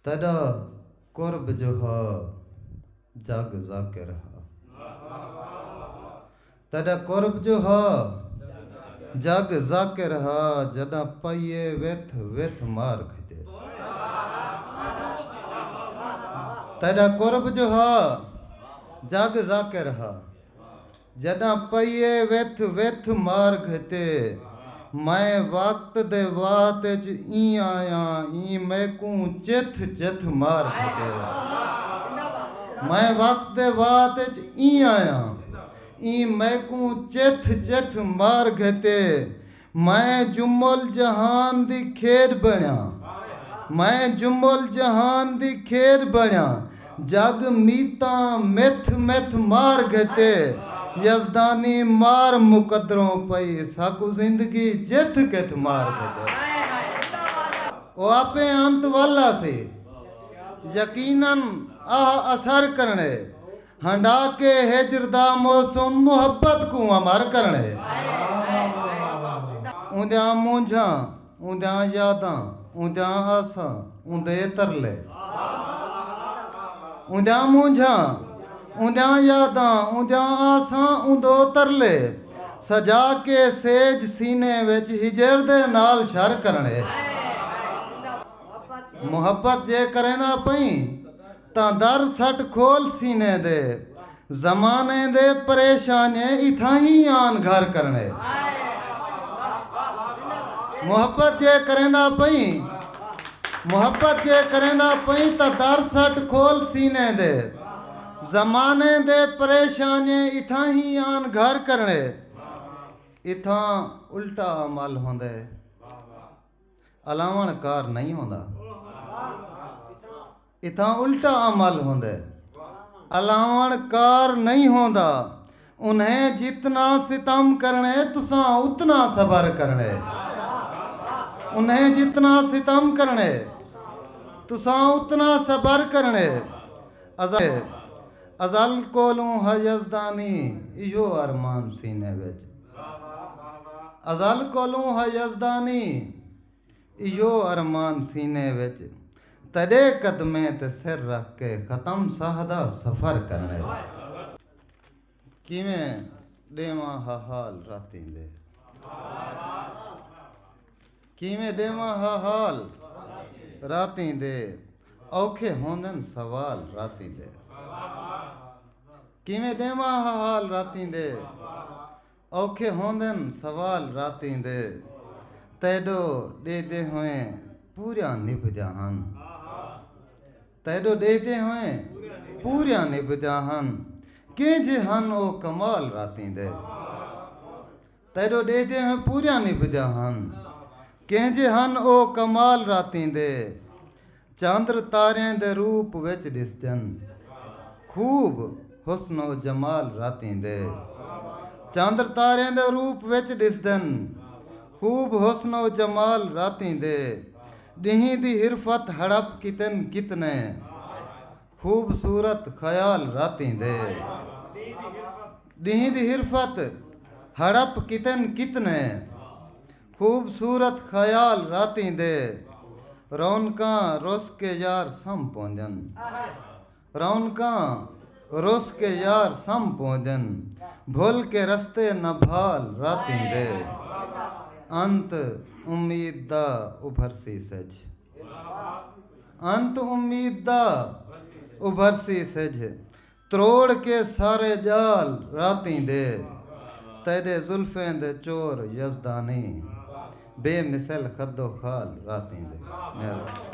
تیݙا قرب جو ہا جڳ ذاکر ہا۔ تیݙا قرب جو ہا جڳ ذاکر ہا جݙاں پئیے وتھ وتھ مار کھڄے۔ تیݙا قرب جو ہا جڳ ذاکر ہا۔ جݙاں پئیے وتھ وتھ مار گھتے۔ میں وقت دے وات اچ ایں آیاں ایں میکوں چتھ چتھ مار گھتے۔ میں وقت دے وات اچ ایں آیاں ایں میکوں چتھ چتھ مار گھتے۔ میں جم الجہان دی کھیݙ بݨیاں میں جم الجہان دی کھیݙ بݨیاں جڳ میتاں متھ متھ مار گھتے یزدانی مار مقدروں پئی ساکوں زندگی جتھ کتھ مار گھتے او آپے انت ول آسی یقینا اہا اثر کرݨے۔ ہنڈا کے ہجر دا موسم محبت کوں امر کرݨ ہے۔ اوندیاں مونجھاں، اوندیاں یاداں، اوندیاں آساں، اوندے ترلے۔ اوندیاں مونجھاں، اوندیاں یاداں، اوندیاں آساں، اوندے ترلے۔ سجا کے سیج سینے وچ ہجر دے نال شر کرݨ ہے۔ محبت جے کرینداں پئیں۔ تاں در سٹ کھول سینے دے۔ زمانے دے پریشانیے اتھاں ہی آن گھر کرݨے۔ محبت جے کریندا پئیں محبت جے کریندا پئیں تاں در سٹ کھول سینے دے۔ زمانے دے پریشانیے اتھاں ہی آن گھر کرݨے۔ اتھاں الٹا عمل ہوندے الاوݨ کار نئیں ہوندا۔ اتھاں الٹا عمل ہوندے۔ الاوݨ کار نئیں ہوندا۔ انھیں جتنا ستم کرݨے تساں اتنا صبر کرݨے۔ انھیں جتنا ستم کرݨے تساں اتنا صبر کرݨے۔ ازل کولوں ہا یزدانی ایہو ارمان سینے وچ۔ ازل کولوں ہا یزدانی۔ ایہو ارمان سینے وچ تݙے قدمیں تے سر رکھ کے ختم ساہ دا سفر کرݨے دا کیویں ݙیواں ہا حال راتیں دے کیویں ݙیواں ہا حال راتیں دے اوکھے ہوندن سوال راتیں دے کیویں ݙیواں ہا حال راتیں دے اوکھے ہوندن سوال راتیں دے تیڈو ڈیہدے ہوئیں پوریاں نبھدیاں ہن تیڈو ڈیہدے ہوئیں پوریاں نبھدیاں ہن کیں جے ہن او کمال راتیں دے تیڈو ڈیہدے ہوئیں پوریاں نبھدیاں ہن کیں جے ہن او کمال راتیں دے چندر تاریں دے روپ وچ ݙسدن۔ خوب حسن و جمال راتیں دے۔ چندر تاریں دے روپ وچ ݙسدن۔ خوب حسن و جمال راتیں دے۔ ݙینہہ دی حرفت ہڑپ کیتن کتنے۔ خوبصورت خیال راتیں دے۔ ݙینہہ دی حرفت ہڑپ کیتن کتنے۔ خوبصورت خیال راتیں دے رونقاں رس کے یار سم پوندن رونقاں رس کے یار سم پوندن بھل کے رستے نہ بھال راتیں دے انت امید دا ابھرسی سجھ انت امید دا ابھرسی سجھ تروڑ کے سارے جال راتیں دے تیڈے زلفیں دے چور یزدانی بے مثل خد و خال راتیں دے مہربانی۔